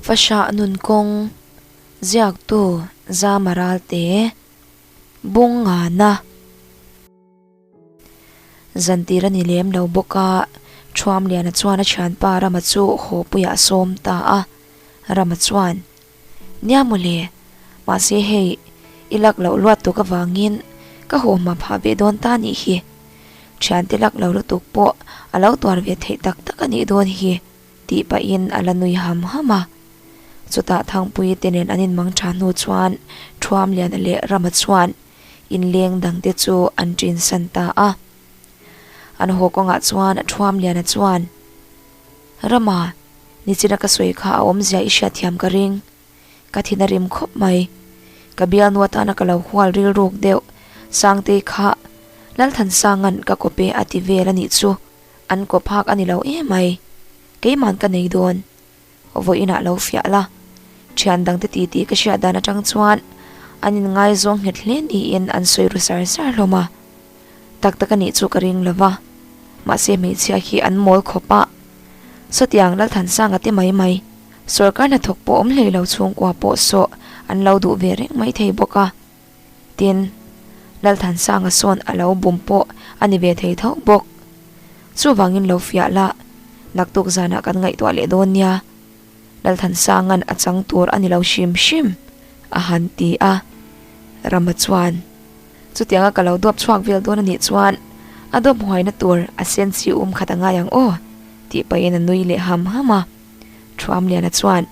Fahrah nun kawng ziaktu zama ralte bung ngana zan tir a ni lem lo bawk a, Thuamliana chuan a thianpa Rama chu Hawpuia a sawm ta a, Rama chuan Nia maw le? Mahse hei i lak loh luat tuk avangin ka huamhma phah ve dawn ta nih hi. Thiante lak lo lutuk pawh a lo tuar ve theih tak tak a nih dawn hi, tih pahin a la nui ham ham a. Chutah Thangpuii te nen an inmang tha hnu chuan Thuamliana leh Rama chuan in leng dang te chu an ṭin san ta a. An haw kawngah chuan Thuamliana chuan, Rama, Nichina ka sawi kha a awmzia i hriatthiam ka ring. Ka thin a rim khawp mai. Ka bialnua tana ka lo hual rilruk deuh. Sangtei kha, Lalthansanga'n ka kawp e a ti vel a nih chu. An kawp hak a ni lo em ai. Keiman ka nei dawn. Vawi inah lo fiah la. Thian dangte titi ka hriat dan atang chuan an inngaizawng nghet hle niin an sawi ru sar sar hlawm a. Tak tak anih chu ka ring lova, mahse hmeichhia hi an mawl khawp a, chutiang Lalthansanga te mai mai, sorkar hnathawk pawh awm hlei lo chhungkua pawh sawh an lo duh ve reng mai thei bawk a, tin, Lalthansanga sawn a lo bum pawh a ni ve thei tho bawk. Chuvangin lo fiah la, naktuk zanah kan ngaihtuah leh dawn nia. Lalthansanga'n a chang tur a ni lo hrim hrim, a han ti a. Rama chuan, Chutianga ka lo dawp chhuak vel dawn a nih chuan a dawp huaina tur a senchi a um khat a ngai ang aw, tih pahin a nui leh ham ham a. Thuamliana chuan,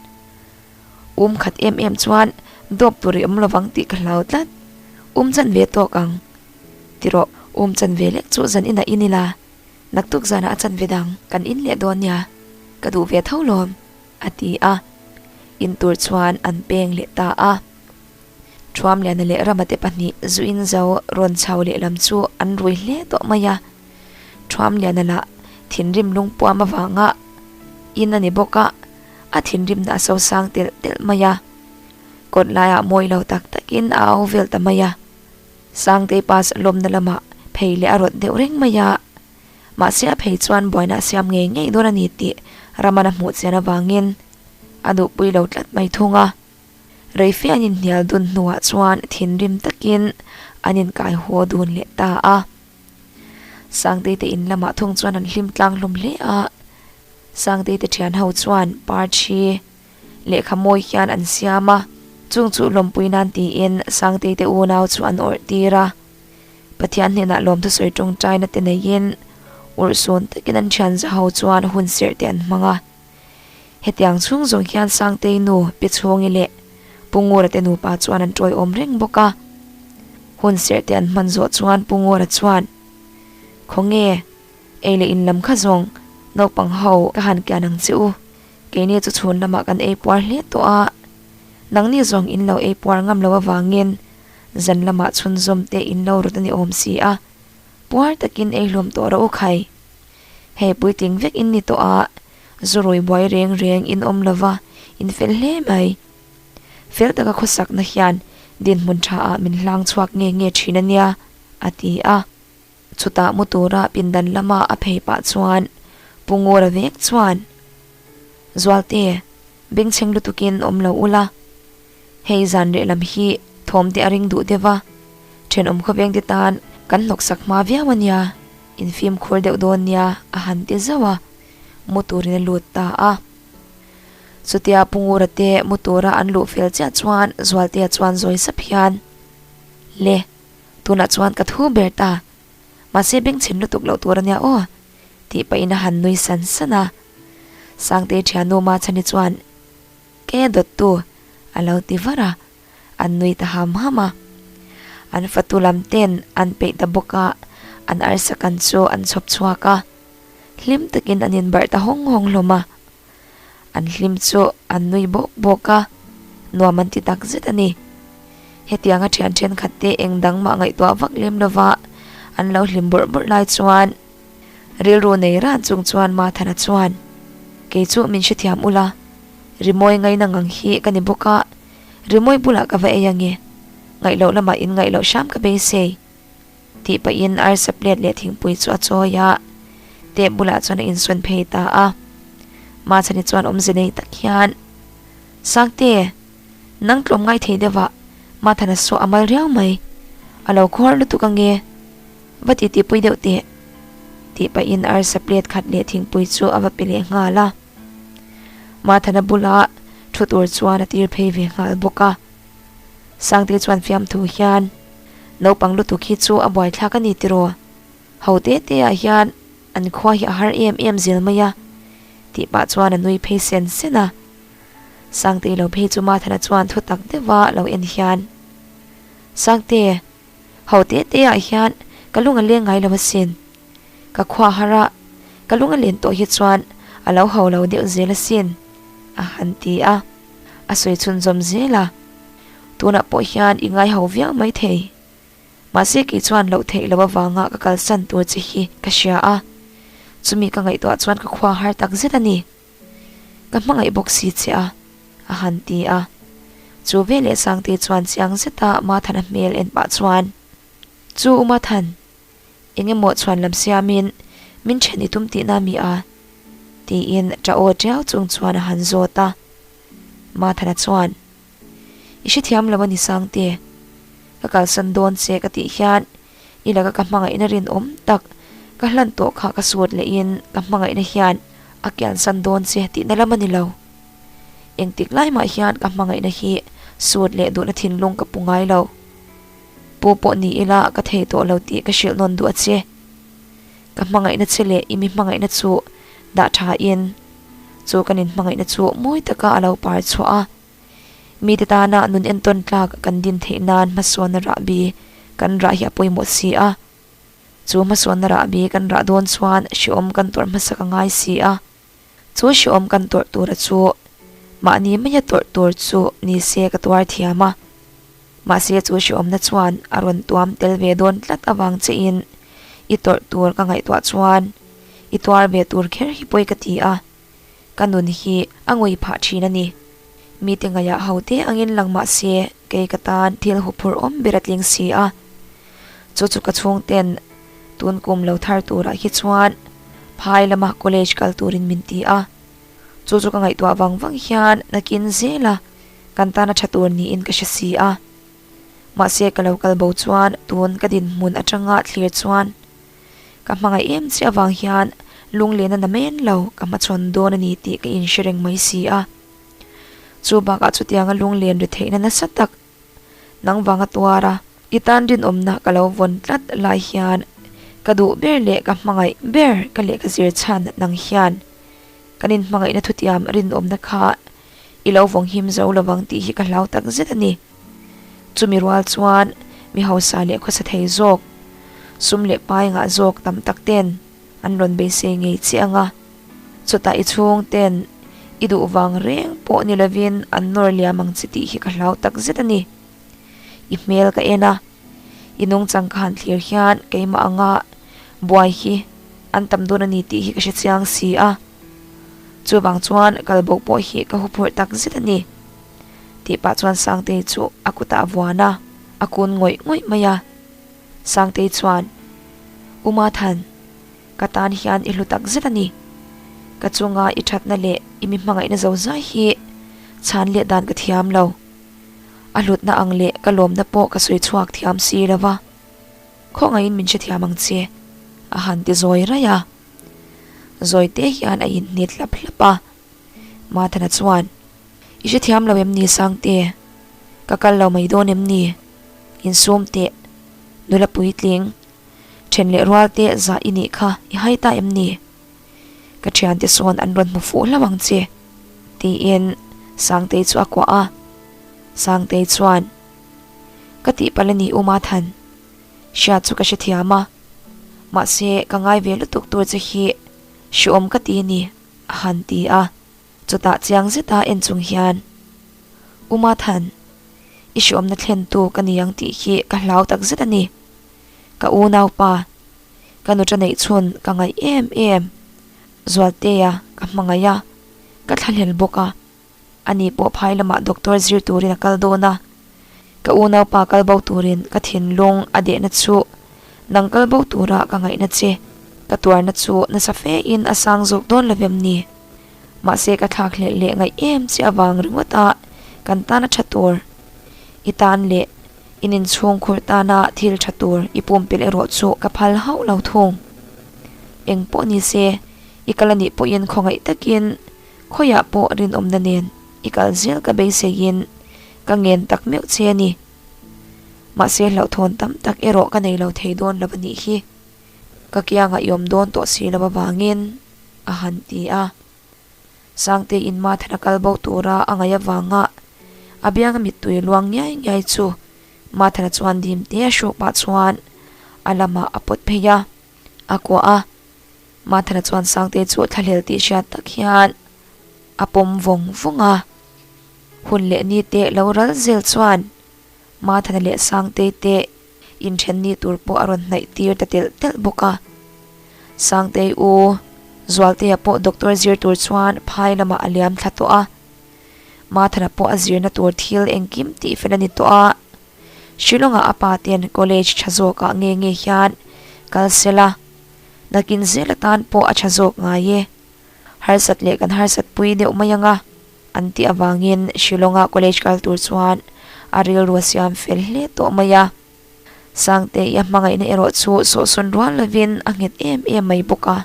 Um khat em em chuan dawp tur i awm lovang tih ka hlau tlat. Um chan ve tawk ang. Ti rawh, um chan ve lek chu zan ina in ila. naktuk zanah a chanve dang kan in leh dawn nia, ka duh ve tho lawm, a ti a. In tur chuan an peng leh ta a. Thuamliana leh Ramate pahnih zu in zo rawn chho leh lam chu an rui hle tawh mai a. Thuamliana lah thinrim lungpuam avanga in a ni bawk a, a thinrimna a sosang telh telh mai a. Kawt laiah mawi lo tak takin a au vel ta mai a. Sangtei pa lawmna lamah phei leh a rawt deuh reng mai a, mahse a phei chuan buaina a siam ngei ngei dawn a ni tih Ramana hmuh chian avangin a nuhpui lo tlat mai thung a. Reife an inhnial dun hnuah chuan thinrim takin an inkai huaw dun leh ta a. Sangtei te in lamah thung chuan an hlim tlang hlawm hle a, Sangtei te thian ho chuan Parthi, Lehkha mawi hian an siam a, chung chu lawmpui nan tiin Sangteite unau chu an awrh tir a. Pathian hnenah lawmthu sawi tawngtaina te neiin urhsun takin an thian za ho chuan hun serh te an hmang a. Hetiang chhung zawng hian Sangtei nu Pi Chhawngi leh Pu Ngurate nupa chuan an ṭawihawm reng bawk a. Hun serh te an hman zawh chuan Pu Ngura chuan, Khawnge, ei leh in lam kha zawng naupang ho ka han kian ang che u. Keini chu chhun lamah kan ei puar hle tawh a, nangni zawng in lo ei puar ngam lo avangin zan lamah chhunzawm te in lo rawt a ni awm si a, puar takin ei hlawm tawh rawh u khai. Hei puiting vek in ni tawh a, zu rui buai reng reng in awm lova in fel hle mai. Fel taka khawsak na hian dinhmun tha ah min hlang chhuak nge nge thin a nia, a ti a. Chutah mu tura pindan lama a phei pah chuan Pungur a vek chuan, Zualte, bengchheng lutukin awm lo ula, hei zan reh lam hi thawmte a ring duh deuh a, thenawm khawvengte tan kan hnawksak hma viau a nia, infimkhur deuh dawn nia a han ti zauh a, mu turin a lut ta a. Chutia Pungura te mu tura an luh fel chiah chuan Zualte chuan zawi sap hian, Le! Tunah chuan ka thu ber ta. Mahse bengchhin lutuk loh tur a nia aw. Tih pahin a han nui san san a. Sangtei thiannu Mahchan hi chuan Kei a dawt tu? A lo ti var a. An nui ta ham ham a. An fatu lam ten an peih ta bawk a, an arsa kan chu an chhawp chhuak a. Hlim takin an inbarh ta hawng hawng hlawm a. An hlim chu an nui bawk bawk a, nuam an ti tak zet a ni. Hetianga thian thenkhatte eng dang mah ngaihtuah vak lem lova an lo hlim bawrh bawrh lai chuan rilru nei ran chung chuan Mathana chuan, Kei chu min hre thiam ula, Rimawi ngaina ngang hi ka ni bawk a, Rimawi bulah ka va ei ange, ngaih loh lamah in ngaih loh hram ka beisei. Tih pahin arsa plate leh thingpui chu a chawi a, tap bulah chuan a insawn phei ta a. Mahchani chuan awmze nei tak hian, Sakte, nang tlawm ngai thei deuhvah Mathana saw a mal riau mai, a lo khawl lutuk ange, va ti tipui deuh teh. Tih pahin arsa plate khat leh thingpui chu a va pe leh nghal a. Mathana bulah thu tur chuan a tir phei ve nghal bawk a. Sangte chuan fiam thu hian, Naupang lutuk hi chu a buaithlak a ni tiraw? Ho te teah hian an khua hi a har em em zel mai a, tih pah chuan a nui phei sen sen a. Sangte lo phei chu Martha-na chuan thutak deuha lo en hian, Sangte! Ho te te ah hian ka lung a leng ngai lo asin. Ka khuahar ah ka lung a len tawh hi chuan a lo ho lo deuh zel asin, a han ti a. A sawi chhun zawm zel a. Tunah pawh hian i ngai ho viau mai thei. Mahse kei chuan loh theih lo avanga ka kalsan tur che hi ka hria a. Chumi ka ngaihtuah chuan ka khuahar tak zet a ni. Ka hmangaih bawk si che a, a han ti a. Chu veleh Sangte chuan chiang zeta Mathan a hmel en pah chuan, Chu u Mathan, engemaw chhuan lam siamin min then i tum tihna a mi a? tiin ṭa aw ṭiau chung chuan a han zawt a. Mathana chuan. I hre thiam lo a ni Sangte, ka kalsan dawn se ka tih hian i laka ka hmangaihna rinawm tak ka hlan tawh kha ka suat leh in ka hmangaihna hian a kiansan dawn se tihna lam a ni lo. Engtik lai mah hian ka hmangaihna hi suat leh duhna thinlung ka pu ngai lo. Pu pawh ni ila ka thei tawh lo tih ka hrilh nawn duh a che. Ka hmangaihna che leh i mi hmangaihna chu dah thain chu kan inhmangaihna chu mawi taka a lo par chhuah a. Mite tana nun entawn tlak kan din theih nan hmasualna rah bi kan rah hi a pawimawh si a. Chu hmasualna rah bi kan rah dawn chuan hreawm kan tawrh hmasak a ngai si a. Chu hreawm kan tawrh tura chu mahni maia tawrh tur chu ni se ka tuar thiam a. Mahse chu hreawmna chuan a rawn tuam tel ve dawn tlat avang che in i tawrh tur ka ngaihtuah chuan i tuar ve tur kher hi pawi ka ti a. Ka nun hi a ngui phah thin a ni. Mite ngaihah haute angin lang mahse kei ka tan thil huphurh awm ber a tling si a. Chu chu ka chhungten tun kum lo thar turah hi chuan phai lama college kal turin min ti a, chu chu ka ngaihtuah vang vang hian nakin zela kan tan a tha tur niin ka hre si a. Mahse ka lo kal bo chuan tun ka dinhmun atanga thlir chuan ka hmangaih em che avang hian lunglena na men lo ka hmachhawn dawn a ni tih ka inhre reng mai si a. Chubakah chutianga lunglen retheihna nasa tak Nangvang a tuar a, i tan rinawmna ka lo vawn tlat lai hian ka duh ber leh ka hmangaih ber ka leh ka zir chhan nang hian kan in hmangaihna thutiam rinawmna kha i lo vawng him zo lo vang tih hi ka hlau tak zet a ni. Chumi rual chuan mi hausa leh khawsa thei zawk, sum leh pai ngah zawk tam tak ten an rawn beisei ngei chiah ang a. Chutah i chhungte'n i duh vang reng pawh ni lovin an nawr liam ang che tih hi ka hlau tak zet a ni. I hmel ka en a, i nung chang ka han thlir hian keimah anga buai hi an tam dawn a ni tih hi ka hre chiang si a. Chuvang chuan kal bo pawh hi ka huphurh tak zet a ni. Tih pah chuan Sangtei chu a kutah vuan a, a kun ngawih ngawih mai a. Sangtei chuan, Uma Than, Ka tan hian i hlu tak zet a ni. Ka chunga i thatna leh i mi hmangaihna zo zai hi chhan leh dan ka thiam lo. A hlutna ang leh ka lawmna pawh ka sawi chhuak thiam si lo va. Khawngaihin min hrethiam ang che, a han ti zawi raih a. Zawite hian a inhnit hlap hlap a. Mathana chuan, I hrethiam lo em ni Sangte? Ka kal lo mai dawn em ni? Insum teh, nula puitling, Then leh rual te zah i nih kha i hai ta em ni? Ka thian te sawn an rawn hmu fuh hlauh ang che. Tiin Sangtei chu a kuah a. Sangtei chuan, Ka tih pal a ni u Mathan. Hriat chu ka hre thiam a. Mahse ka ngai ve lutuk tur che hi hreawm ka ti a ni, a han ti a. Chutah chiang zeta en chung hian Uma Than, i hruamna thlentu ka ni ang tih hi ka hlau tak zet a ni. Ka unaupa, ka nu Taneih chhun ka ngaih em em. Zualtea ka hmangaih a, ka thlahlel bawk a, ani pawh phai lamah doctor zir turin a kal dawn a. Ka u naupa kal bo turin ka thinlung a dehna chu nang kal bo tura ka ngaihna che. Ka tuarna chu nasa fe in a sang zawk dawn lovem ni? Mahse ka thlak hlelh leh ngaih em che avang ringawt a kan tan a tha tur i tan leh in inchhungkhur tana thil tha tur i pumpilh erawh chu ka phal hauh lo thung. Eng pawh ni se i kal anih pawhin khawngaih takin khawiah pawh rinawmna nen i kal zel ka beisei in Ka ngen tak meuh che a ni. Mahse hlauhthawn tam tak erawh ka nei lo thei dawn lo a nih hi. Ka kiangah iawm dawn tawh si lo avangin a han ti a. Sangtei in mathar a kal bo tura a ngaih avanga a bianga mittui luang ngiai ngiai chu mathara chuan dim te a hruak pah chuan a lamah a pawt phei a, a kuah a. Mathara chuan Sangtei chu thlahlel tih hriat tak hian a pawm vawng vawng a, hun leh ni te lo ral zel chuan Mathana leh Sangtei te in then ni tur pawh a rawn hnaih tir ta telh telh bawk a, Sangtei u, Zualtea pawh doctor zir tur chuan phai lamah a liam thla tawh a, Mathana pawh a zirna tur thil engkim tih fel a ni tawh a, Shillonga a pa ten college tha zawkah nge nge hian kal sela, nakin zel atan pawh a tha zawk ngai e. Harsat leh kan harsat pui deuh mai anga an tih avangin Shillonga college kal tur chuan a rilrua siam fel hle tawh mai a. Sangte-i a hmangaihna erawh chu sawhsawn rual lovin a nghet em em mai bawk a.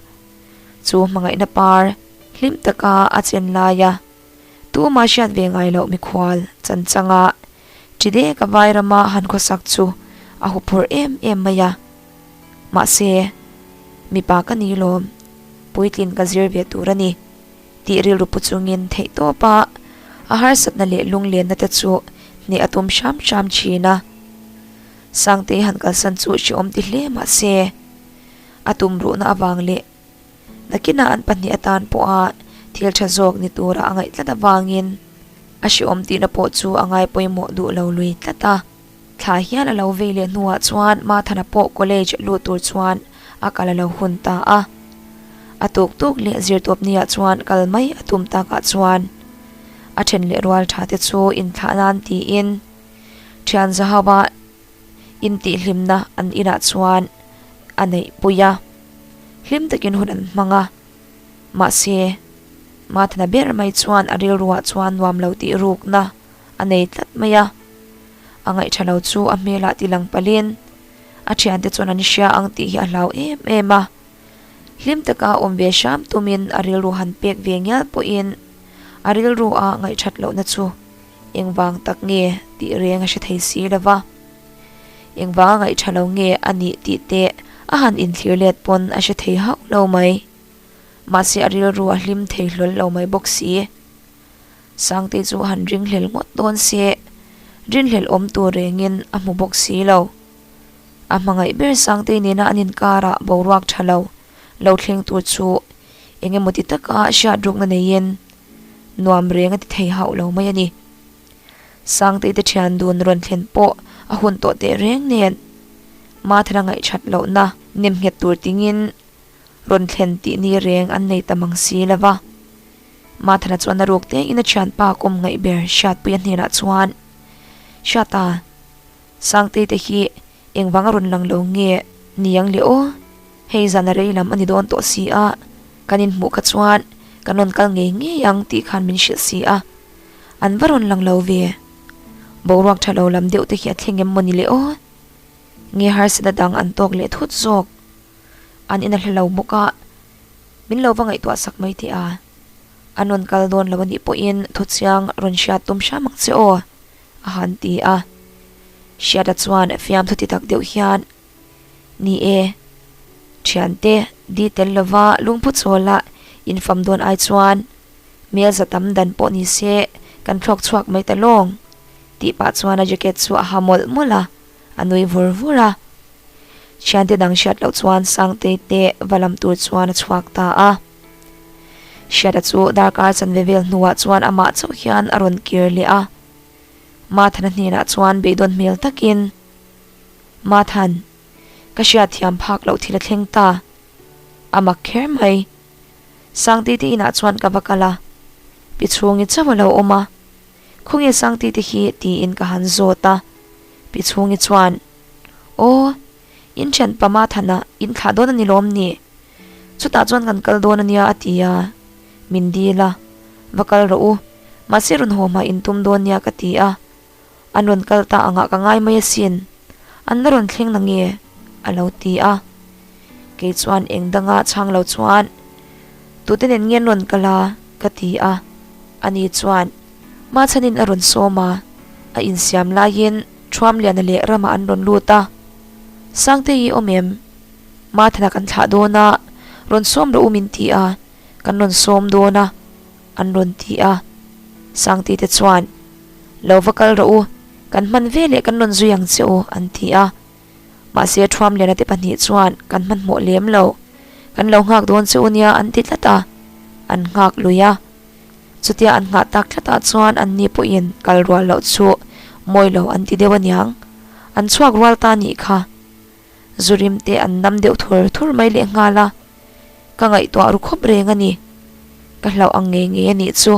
Chu hmangaihna par hlim taka a chenlai a. Tuma hriat ve ngai loh mikhual chanchanga chi dek a vai rama han khawsak chu a huphurh em em mai a. Mahse, mipa ka ni lawm, puitlin ka zir ve tur a ni, tih rilru pu chungin theih tawp a, a harsatna leh lunglenna te chu hneh a tum hram hram thin a. Sangtei han kalsan chu hre awm ti hle mahse, a tumruhna avang leh Nakinah an pahnih atan pawha thil tha zawk ni tura a ngaih tlat avangin a hreawm tihna pawh chu a ngai pawimawh duh lo lui tlat a. Thla hial a lo vei leh hnuah chuan Mathana pawh college lut tur chuan a kal a lo hun ta a. A tuktuk leh Zirtuapnia chuan kal mai a tum takah chuan a then leh rual tha te chu inthlahna an tiin Thianzahauha Intihhlimna an inah chuan a neihpui a, hlim takin hun an hmang a. Mahse, Martha-na ber mai chuan a rilruah chuan nuam lo tih rukna a nei tlat mai a. A ngaihṭha lo chu a hmelah ti lang palhin, a ṭhiante chuan an hria ang tih hi a hlau em em a. Hlim taka awm ve hram tumin a rilru han pek ve ngial pawhin a rilrua ngaihṭhat lohna chu. Engvang tak nge tih reng a hre thei si lo va, engvanga ngaihṭha lo nge a nih tih te a han inthlir let pawn a hre thei hauh lo mai. Mahse a rilru a hlim thei hlawl lo mai bawk si. Sangte chu han ringhlel ngawt dawn se, rinhlel awm tur rengin a hmu bawk si lo. A hmangaih ber Sangte nena an inkarah boruak ṭha lo, lo thleng tur chu eng emaw ti taka hriatrukna neiin, nuam reng a ti thei hauh lo mai a ni. Sangteite thian dun rawn thlen pawh a hun tawh teh reng nen, Mathara ngaihthat lohna nem nghet tur tingin rawn thlen tih ni reng an nei ta mang si lo va. Mathara chuan a ruk tengin a thianpa kawm ngaih ber Hriatpuia hnenah chuan, Hriata, Sangteite hi engvang a rawn lang lo nge niang leh aw hei zan a rei lam a ni dawn tawh si a, kan inhmuh kha chuan kan rawn kal ngei ngei ang tih khan min hrilh si a, an va rawn lang lo ve? Boruak tha lo lam deuh te hi a thleng em maw ni le aw? Nge harsatna dang an tawk leh thut zawk? An in a hla lo bawk a, min lo va ngaihtuah sak mai teh a, an rawn kal dawn lo a nih pawhin thuchiang rawn hriat tum hram ang che aw. A han ti a, Hriata chuan fiam thawti tak deuh hian, Ni e, thiante, di tel lova lungphu chawla in fam dawn ai chuan hmelza tam dan pawh ni se kan thlawk chhuak mai ta lawng. Tih pah chuan a jacket chu a ha mawlh mawlh a, a nui vur vur a. Thiante dang hriat loh chuan Sangtei te va lam tur chuan a chhuak ta a. Hriata chu darkar chanve vel hnuah chuan amah chauh hian a rawn kir leh a. Marthan-a hnenah chuan beidawn hmel takin, Marthan, ka hriatthiam phak loh thil a thleng ta. A mak kher mai. Sangtiti inah chuan ka va kal a, pi chhungi chauh a lo awm a. Khawngin Sangtiti hi? tiin ka han zawt a. Pi chhungi chuan, Aw. In thian pama thana in thlah dawn a ni lawm ni? Chutah chuan kan kal dawn a nia a ti a, min dil a, va kal rawh u, mahse rawn haw hmai in tum dawn nia ka ti a, an rawn kal ta angah ka ngai mai asin, an la rawn thleng na nge? a lo ti a, kei chuan eng danga chhang lo chuan tute nen nge an rawn kal a ka ti a, ani chuan Hmachhanin a rawn sawm a, a insiam laiin. Thuamliana leh Rama an rawn lut a, Sangte hi awm em? Mathana kan thlah dawn a, rawn sawm rawh u min ti a, kan rawn sawm dawn a, an rawn ti a. Sangte te chuan, Lo va kal rawh u, kan hman veleh kan rawn zui ang che aw, an ti a. Mahse, thuam liana te pahnih chuan kan hmanhmawh lem lo. Kan lo nghak dawn che u nia an ti tlat a, an nghak lui a. Chutia an nghah tak tlatah chuan anni pawhin kal rual loh chu mawi lo an ti deuh aniang. An chhuak rual ta nih kha. Zu rim te an nam deuh thur thur mai lehnghal a. Ka ngaihtuah ru khawp reng a ni. Ka hlauh ang ngei ngei a nih chu.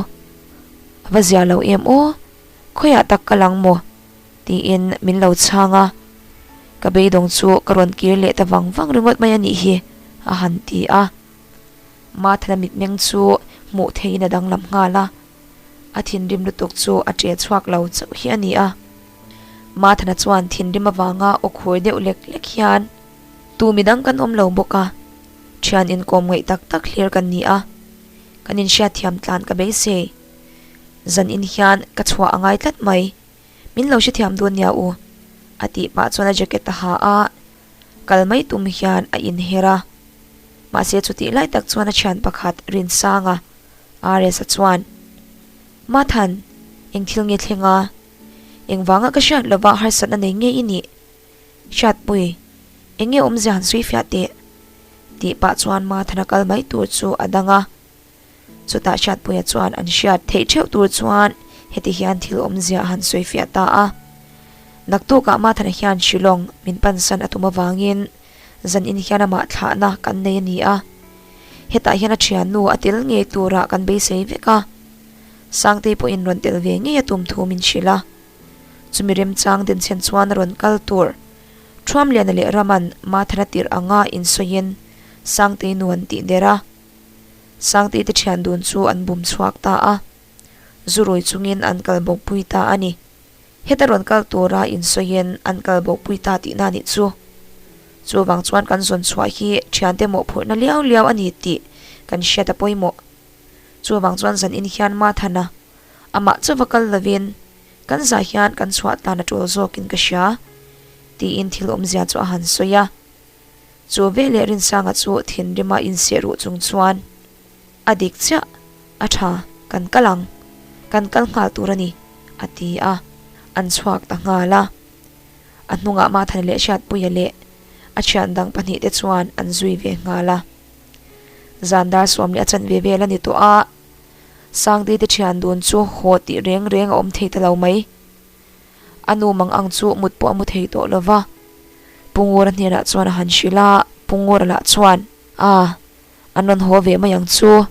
A va zia lo em aw. Khawiah tak ka lang maw? Tiin min lo chhang a, ka beidawng chu ka rawn kir leh ta vang vang ringawt mai a nih hi, a han ti a. Mathana mitmeng chu hmuh theihin a danglam nghal a, a thinrim lutuk chu a ṭial chhuak lo chauh hi a ni a. Mathana chuan thinrim avanga aw khur deuh lek lek hian. Tu mi dang kan awm lo bawk a, ṭhian inkawm ngaih tak tak hlir kan ni a, kan inhriat thiam tlan ka beisei. Zan in hian ka chhuah a ngai tlat mai. Min lo hrethiam dawn nia u, a tih pah chuan a jacket a ha a, kal mai tum hian a in her a. Mahse chutih lai tak chuan a thian pakhat Rinsanga, Aresa chuan, Mathan, eng thil nge thleng a? Eng vanga ka hriat lova harsatna nei ngei i nih? Hriatpuii, enge awmzia han sawi fiah teh? Tih pah chuan Mathana kal mai tur chu a dang a. Chutah hriatpuia chuan an hriat theih theuh tur chuan heti hian thil awmzia a han sawi fiah ta a, Naktuk ah Mathana hian Shillong min pansan a tum avangin zan in hian amah thlahna kan nei a ni a, hetah hian a thiannu a tel ngei turah kan beisei vek a, Sangtei pawhin rawn tel ve ngei a tum thu min hrilh a. Chumi remchang Denchen chuan rawn kal tur Thruamliana leh Raman Mathana tirh anga insawin Sangtei nuan tih der a, Sang tihte thian dun chu an bum chhuak ta a, zu rawi chungin an kal bawk pui ta a ni. Heta rawn kal tura insawin an kal bawk pui ta tihna a nih chu. Chuvang chuan kan zawn chhuah hi thiante mawhphurhna liau liau a ni tih kan hriat a pawimawh. Chuvang chuan zan in hian Mathana amah chauh va kal lovin kan zah hian kan chhuah tlan a tul zawkin ka hria, tiin thil awmzia chu a han sawi a. Chu veleh Rinsanga chu thinrima insehruh chung chuan a dik chiah a tha, Kan kal ang, kan kal nghal tur a ni, a ti a, an chhuak ta nghal a. A hnungah Mathane leh Hriatpuia leh a thian dang pahnih te chuan an zui ve nghal a. Zan dar suam leh a chanh ve vel a ni tawh a, Sangdeite thian dun chu haw tih reng reng a awm thei ta lo mai. A nu mang ang chu mut pawh a mu thei tawh lo va. Pungura hnenah chuan a han hrilh a, Pungura lah chuan, Ah, a nawn haw ve mai ang chu.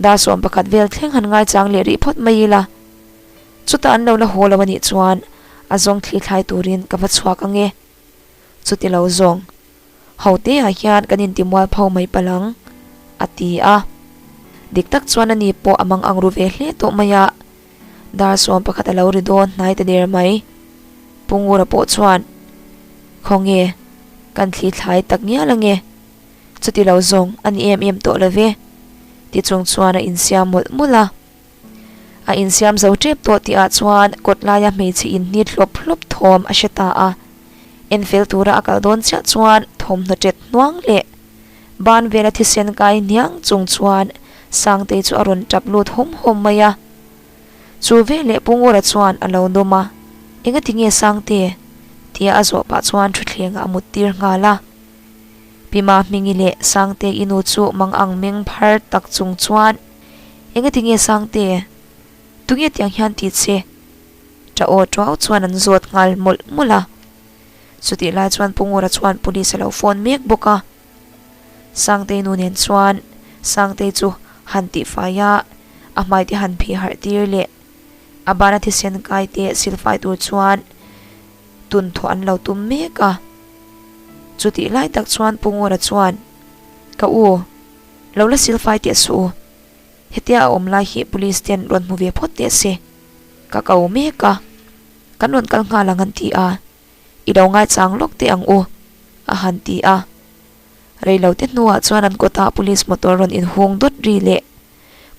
Dasawm pakhat vel thleng han ngaichang leh rih phawt mai ila. Chuta an lo la haw lo a nih chuan a zawng thlithlai turin ka va chhuak ang e. chu ti lo zawng. Hote ah hian kan inti mual pho mai palang, a ti a. Dik tak chuan ani pawh a mang ang ru ve hle tawh mai a. Dar sawm pakhat a lo ri dawn hnai ta der mai. Pungura pawh chuan, Khaw nge, kan thli thlai tak ngial ange. Chu ti lo zawng a ni em em tawh love. Ti chung chuan a insiam mawlh mawlh a. A insiam zo tep tawh tih ah chuan kawt lai a hmeichhe in hni hlawp hlawp thawm a hre ta a. En fel tur a a kal dawn chiah chuan thawmhnaw tet hnuang leh ban vel a thisen kai hniang chung chuan Sangtei chu a rawn tap lut hawm hawm mai a. Chu veleh Pungura chuan a lo dawm a, Enga ti nge Sangte? tia a zawh pah chuan thutthlengah a mut tir nghal a. Pima Hmingi leh Sangtei i nu chu mang ang meng phar tak chung chuan, Eng a ti nge Sangte? Tunge tiang hian ti che. Tah aw tau chuan an zawt nghal mawlh mawlh a. Chutih lai chuan Pungura chuan Police a lo phone mek bawk a. Sangtei nu nen chuan Sangtei chu han tih fai a, a hmai te han phih harh tir leh a bana thisen kai te sil fai tur chuan tun thawh an lo tum mek a. Chutih lai tak chuan Pungura chuan, Ka u, Lo la sil fai teh suh u. Hetia a awm lai hi Police te an rawn hmu ve phawt teh se. Ka kau mek a. Kan rawn kal nghal ang an ti a. I lo ngaichang lawk teh ang u. A han ti a. Reilo te hnuah chuan an kawtah Police motor rawn in hung dawt ri leh.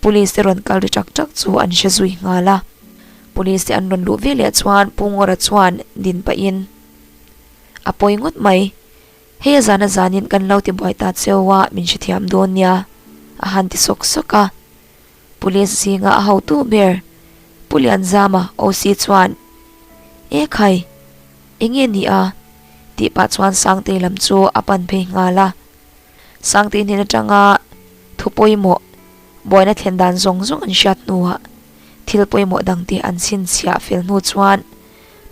Police te rawn kal ri chak chak chu an hre zui nghal a. Police te an rawn luh veleh chuan Pungawra chuan din pahin a pawi ngawt mai. Hei a zana zanin kan lo ti buai ta cheu a, min hrethiam dawn nia, a han ti sawk sawk a. Police zinga a hotu ber, Pu Lianzama OC chuan, E khai, enge ni a? tih pah chuan Sangtei lam chu a pan phei nghal a. Sangtei hnên aṭanga thu pawimawh, buaina thlen dan zawng zawng an hriat hnuah thil pawimawh dangte an chhinchhiah fel hnu chuan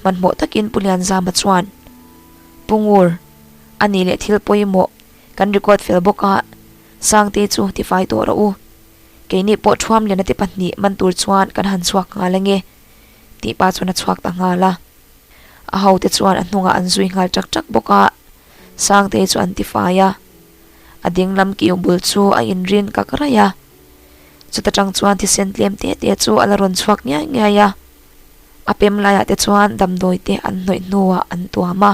hmanhmawh takin Pu Lianzama chuan, Pungur a nih leh thil pawimawh kan record fel bawk a, Sangte chu tifai tawh rawh u. Keini pawh thuam lian ati pahnih man tur chuan kan han chhuak nghal enge? tih pa chuan a chhuak ta nghal a. A hote chuan a hnungah an zui nghal ṭak ṭak bawk a, Sangte chu an tifai a. A dinglam kiu bul chu a inrin kak raih a. Chuta ṭang chuan thisen tlem tete chu a la rawn chhuak ngiai ngiai a. A pem laiah te chuan damdawite an hnawih hnuah an tuam a,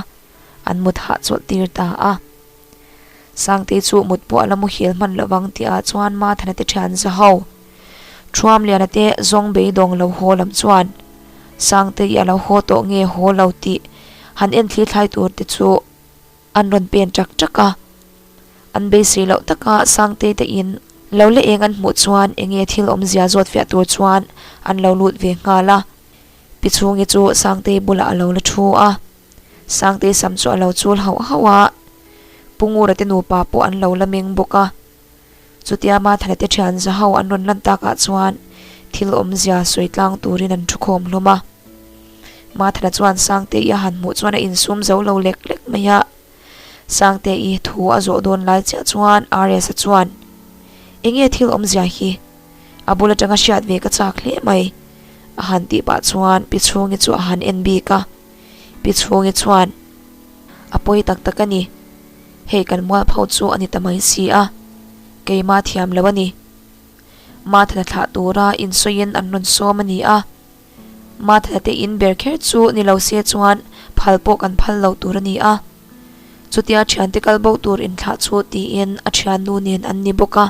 an mut hahchawlh tir ta a. Sangtei chu mut pawh a la muhil hman lo vang tih ah chuan Mathan a ti ṭhian za ho. Ṭhuamliana te zawng beidawng lo haw lam chuan Sangtei i a lo haw tawh nge haw lo tih han enthlir thlai tur te chu An rawn pen ṭak ṭak a, an beisei loh tak a, Sangtei te in lo la eng an hmuh chuan eng nge thil awm zia zawt fiah tur chuan an lo lut ve nghal a, Pi Chungi chu Sangtei bulah a lo la ṭhu a, Sangtei sam chu a lo chul hauh hauh a, Pungura te nupa pawh an lo la meng bawk a. Chutia ma Thalete thian zaho an rawn lan takah chuan thil awmzia sawi tlang turin an thu khawm hlawm a. Ma Thala chuan Sangte-i a han hmuh chuan a insum zo lo lek lek mai a. Sangte-i thu a zawh dawn lai chiah chuan RS-a chuan, Enge thil awmzia hi? A bul atanga hriat ve ka chak hle mai. A han tih pah chuan Pi Chhungi chu a han en bik a. Pi Chhungi chuan, A pawi tak tak a ni. Hei kan mualpho chu a ni ta mai si a, keima thiam lo a ni. Mathana thlah tura insawiin an rawn sawm a ni a. Mathana te in ber kher chu ni lo se chuan phal pawh kan phal lo tur a ni a. Chutia thiante kal bo tur in thlah chu tiin a thiannu nen an ni bawk a.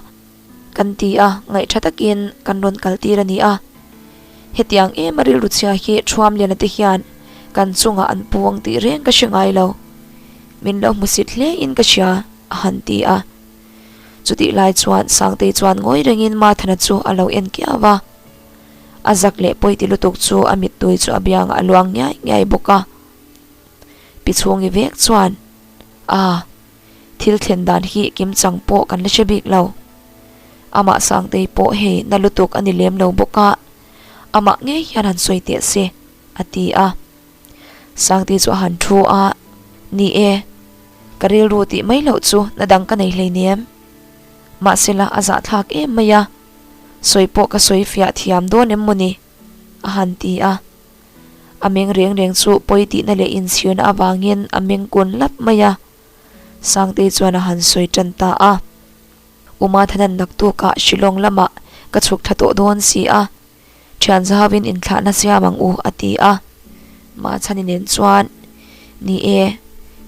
Kan ti a, ngaihṭha takin kan rawn kaltir a ni a. Hetiang em a rilru chhia hi ṭhuamliana te hian kan chungah an puang tih reng ka hre ngai lo. Min lo hmusit hle in ka hria, a han ti a. Chutih lai chuan Sangtei chuan ngawi rengin Martha-na chu a lo en kiau a. A zak leh pawi ti lutuk chu a mittui chu a biangah a luang ngiai ngiai bawk a. Pi chhungi vek chuan, Aa, Thil thlen dan hi kim chang pawh kan la hre bik lo. Amah Sangtei pawh hei na lutuk a ni lem lo bawk a, amah nge hian han sawi teh se, a ti a. Sangtei chu a han thu a, Ni e, ka rilru tih mai loh chu na dang ka nei hleinem. Mahsela a zahthlak em mai a, sawi pawh ka sawi fiah thiam dawn em maw ni? a han ti a. A meng reng reng chu pawi tihna leh inchhirna avangin a meng kun lap mai a. Sangtei chuan a han sawi tan ta a, Uma thanan naktukah Shillong lamah ka chhuk tha tawh dawn si a, thian zauin inthlahna siam ang u a ti a. Mahchhani nen chuan, Ni e,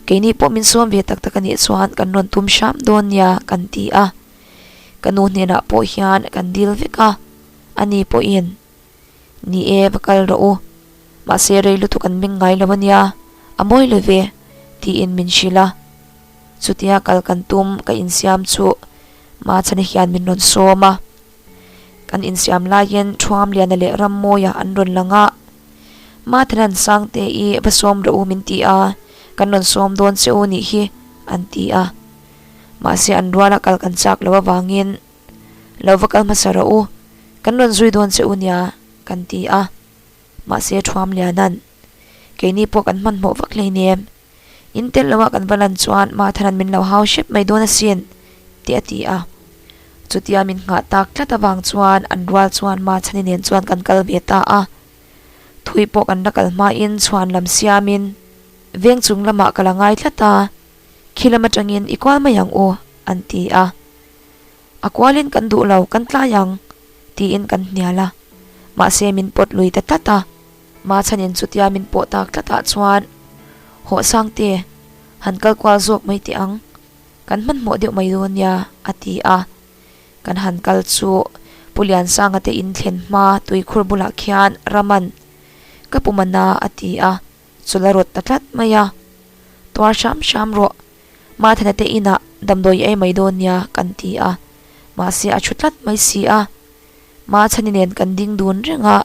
keini pawh min sawm ve tak tak a nih chuan kan rawn tum hram dawn nia kan ti a. Ka nu hnenah pawh hian kan dil vek a, ani pawhin Ni e, va kal rawh u. Mahse rei lutuk an meng ngai lo a nia, a mawi lo ve, tiin min hrilh a. Chutia kal kan tum, ka insiam chu Mahachhana hian min rawn sawm a. Kan insiam laiin Thuamliana leh Rammawiah an rawn lang a. Mahthanan sang te i va sawm rawh u min ti a, kan rawn sawm dawn che u nih hi, an ti a. Mahse an ruala kal kan chak lo avangin, Lo va kal hmasa rawh u, kan rawn zui dawn che u nia, kan ti a. Mahse thuam liana'n, Keini pawh kan hmanhmawh vak hlei ni em? In telh loah kan va lan chuan Martha'n min lo hau hrep mai dawn asin, tih a ti a. Chutia min nghah tak tlat avang chuan an rual chuan Marthani nen chuan kan kal ve ta a. Thui pawh kan la kal hmain chhuan lam siamin veng chung lamah ka la ngai tlat a, Khi lam atangin i kual mai ang u, an ti a. A kualin kan duh lo, kan tlai ang, tiin kan hnial a. Mahse min pawt lui ta tlat a, ma chhanin chutia min pawh tak tlatah chuan, Haw Sangte, han kal kual zawk mai teh ang, kan hmanhmawh deuh mai dawn nia, a ti a. Kan han kal chu Pu Lian Sangate in thlen hma Tuikhur bulah khian Raman ka pu man a, a ti a. chu la rawt ta tlat mai a, tuar hram hram rawh, Mathena te inah damdawi ei mai dawn nia kan ti a, mahse a thu tlat mai si a, Matheni nen kan ding dun reng a,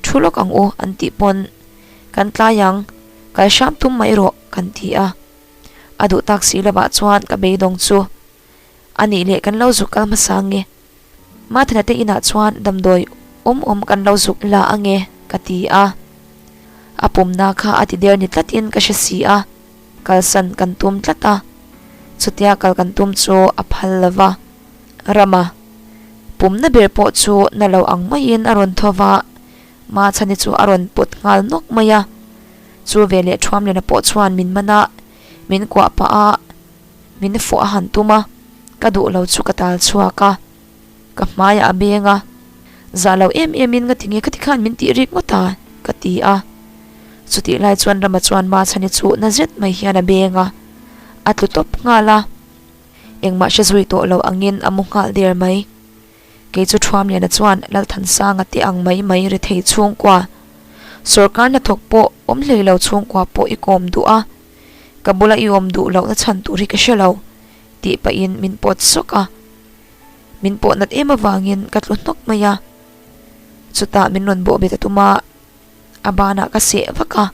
thu lawk ang u an tih pawn kan tlai ang, kal hram tum mai rawh kan ti a, a duh tak si lovah chuan ka beidawng chu a nih leh kan lo zuk kal hmasa ange. Mathina te inah chuan damdawi awm awm kan lo zuk la ange ka ti a. A pumna kha a ti der ni tlatin ka hre si a, kalsan kan tum tlat a. Chutia kal kan tum chu a phal lo va. Rama, pumna ber pawh chu na lo ang maiin a rawn thaw va, Mathani chu a rawn pawt nghal nawk mai a. Chu veleh thuam lena pawh chuan min man a, min kuah pah a. Min fuh a han tum a, ka duh lo chu ka tal chhuak a, ka hmaiah a beng a, zah lo em em in ka ti nge khati khan min tih rik ngawt a, ka ti a. Chutih lai chuan Rama chuan Mahsani chu na zet mai hian a beng a, a tlu tawp nghal a, engmahse zui tawh loh angin a mu nghal der mai. Kei chu Thuamliana chuan Lalthansanga te ang mai mai rethei chhungkua, sorkar hnathawk pawh awm hlei lo chhungkua pawh i kawm duh a, Ka bula i awm duh lohna chhan tur hi ka hre lo, tih pahin min pawt sawk a. Min pawh nat em avangin ka tlu hnawk mai a. Chutah min rawn bawhbet a tum a, a banah ka seh vak a.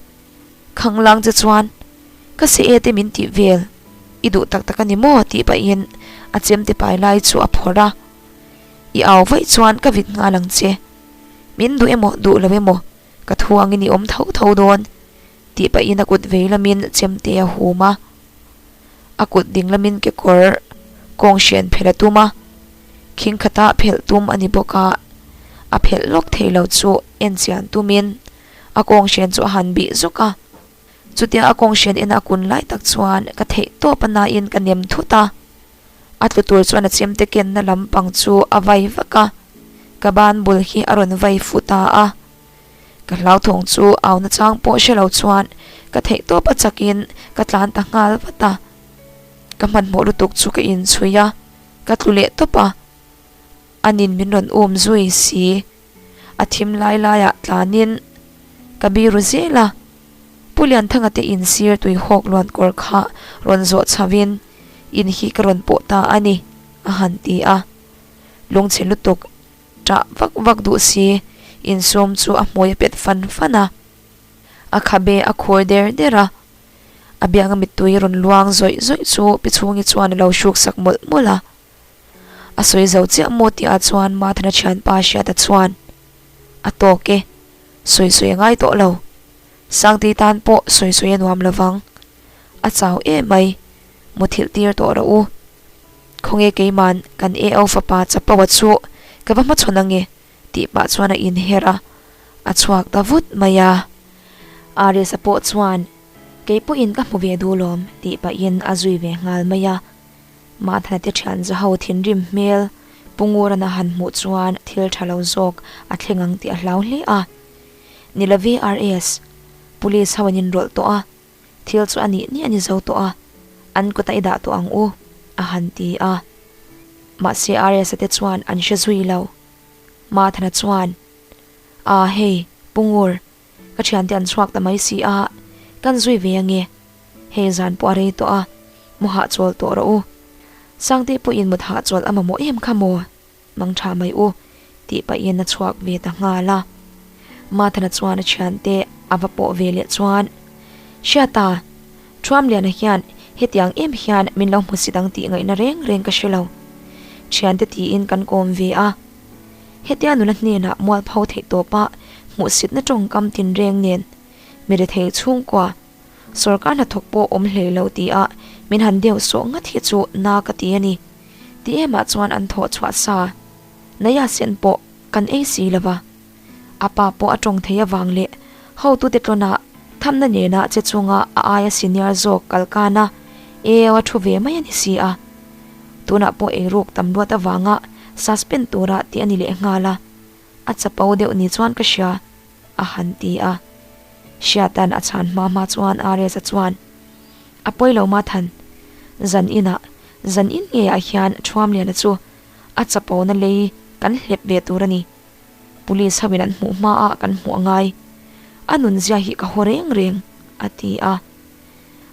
Khanglang che chuan, Ka seh e te min tih vel, i duh tak tak a ni maw? tih pahin a chem te pai lai chu a phawrh a. I au vaih chuan ka vit nghal ang che. Min duh emaw, duh lo emaw, ka thuangin i awm tho tho dawn. Tih pahin a kut vei lamin chemte a hum a, a kut ding lamin kekawr kawng hrian phelh a tum a, khingkhata phelh tum a ni bawk a, a phelh lawk thei lo chu en chian tumin a kawng hrian chu a han bih zawk a, chutia a kawng hrian ena a kun lai tak chuan ka theih tawp a nain ka nem thut a, a tlu tur chuan a chemte kenna lampang chu a vai vak a, ka ban bul hi a rawn vai futa a. Ka hlauthawng chu au nachang pawh hre lo chuan ka theih tawp a chakin ka tlan ta nghal vat a. Ka hmanhmawh lutuk chu ka inchhui a, ka tlu leh tawp a. Anin min rawn um zui si. A thim lai laiah tlanin ka bi ru zel a. Pu Lianthangate in sir tui hawk luan kawr kha rawn zawh chhoin in hi ka rawn pawh ta a ni, a han ti a. Lungchhe lutuk. Chah vak vak duh si. Insum chu a hmui a pet fan fan a. A khabe a khur der der a. A biakna mittui rawn luang zawih zawih chu Pi Chhungi chuan a lo hruksak mawlh mawlh a. A sawi zo chiah maw tih ah chuan Mathana thian pa hriata chuan a tawk e. Sawi sawi a ngai tawh lo. Sangti tan pawh sawi sawi a nuam lo vang. a chau em mai, muthilh tir tawh rawh u. Khawnge keiman kan Eau fapa chapo a chu ka va hmachhawn ange tih pah chuan a inher a, a chhuak ta vut mai a. Aris-a pawh chuan kei pawhin ka hmu ve duh lawm tih pahin a zui ve nghal mai a. Mahthana te thian za ho thinrim hmel Pungurana han hmuh chuan thil tha lo zawk a thleng ang tih a hlau hle a. Ni love Aris, Police ho an inrawlh tawh a. Thil chu a nih ni a ni zo tawh a, an kut a i dah tawh ang u, a han ti a. Mahse RSA te chuan an hre zui lo. Mathana chuan, Aa hei, Pungur, ka thiante an chhuak ta mai si a, kan zui ve a nge. Hei zan pawh a rei tawh a, mawhah chawl tawh rawh u. Sangte pawhin mut hahchawl a mamawh em kha maw? Nang tha mai u, tih paih hian a chhuak ve ta nghal a. Mathana chuan a thiante a va pawh ve leh chuan, Hria ta, Thuamliana hian hetiang em hian min lo hmu si dang tih ngaihna reng reng ka hre lo, thiante tiin kan kawm ve a. Hetia nuna hnenah mualpho theih tawpah hmuhsitna tawngkam tinreng nen mi rethei chhungkua, Sorkar hnathawk pawh awm hle lo ti a min han deuh sawh ngat hi chu na ka ti a ni. Ti em ah chuan an thawh chhuah sa. Naya Sen pawh kan ei si lova. A pa pawh a tawng thei avang leh hotu te tlawn a thamna nena che chunga a aia senior zawk kal kan a eo a thu ve mai a ni si a. Tunah pawh ei ruk tam luat avanga suspend tura ti a ni leh nghal a. A chapo deuh ni chuan ka hria a han ti a. Hria tan a chhan hma hma chuan Aresa chuan a pawi lo ma than. Zan inah, zan in nge ah hian Thuamliana chu a chapo na lei kan hlep ve tur a ni. Police ho in an hmuh hma ah kan hmu a ngai. A nunzia hi ka haw reng reng a ti a.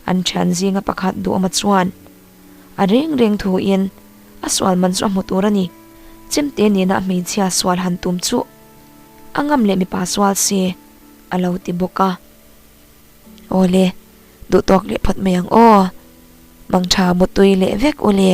An thian zinga pakhat Duhma chuan. A reng reng thu in a sual man chu a hmu tur a ni. Chimte nen ah hmeichhia sual han tum chu a ngam leh mipa sual se a lo ti bawk a. Awle, duh tawk leh phawt mai ang aw. Mang tha mu tui leh vek ule.